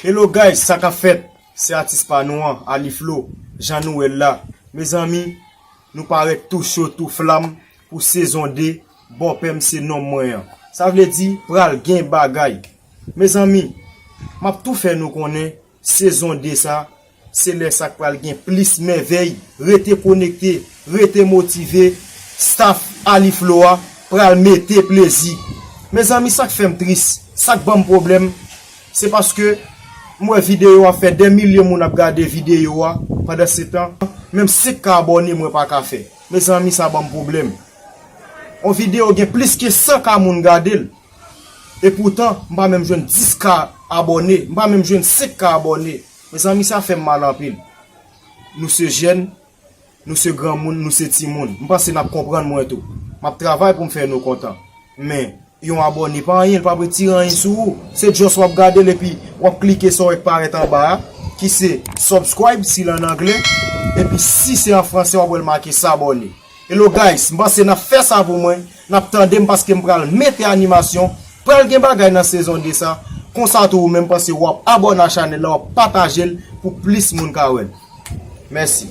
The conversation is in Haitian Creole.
Hello guys sa kap fèt se atis pa nou an Aliflo jan nou wèl la mezanmi nou parèt tou cho tou flam pou sezon 2 bòpèm se nonm mwen an sa vle di pral gen bagay mezanmi map tou fè nou konnen Sezon 2 sa, se lè sa k pral gen plis mèvèy, rete konekte, rete motive, staff Aliflo a pral mete plezi. Mezanmi sak fèm tris, sak banm pwoblèm, se paske m wè videyo a fè dè milye moun ap gade videyo a pandan se tan menm 5 k abòne mwen pa ka fè, mezanmi sa banm pwoblèm. On videyo gen plis ke 100 k moun gade l. E poutan m pa menm jwenn 10 k abòne, m pa menm jwenn 5 k abòne. Mezanmi sa fè m mal anpil. Nou se jèn, nou se granmoun, nou se timoun. M panse n ap konprann mwen tou. M ap travay pou m fè nou kontan. Men, yon abòne pa anyen, l pap retire anyen sou ou. Se just w ap gade l epi w ap klike sa w wè k parèt anba a, ki se subscribe si l an angle, epi si se an franse w ap wè l make s'abonner. Hello guys, m panse n ap fè sa pou mwen, Nap tandem paskem pral mete animasyon pral gen bagay nan sezon 2 sa konsa tou ou menm pase wap abòne a chanèl la wap patajel pou plis moun ka wèl mèsi.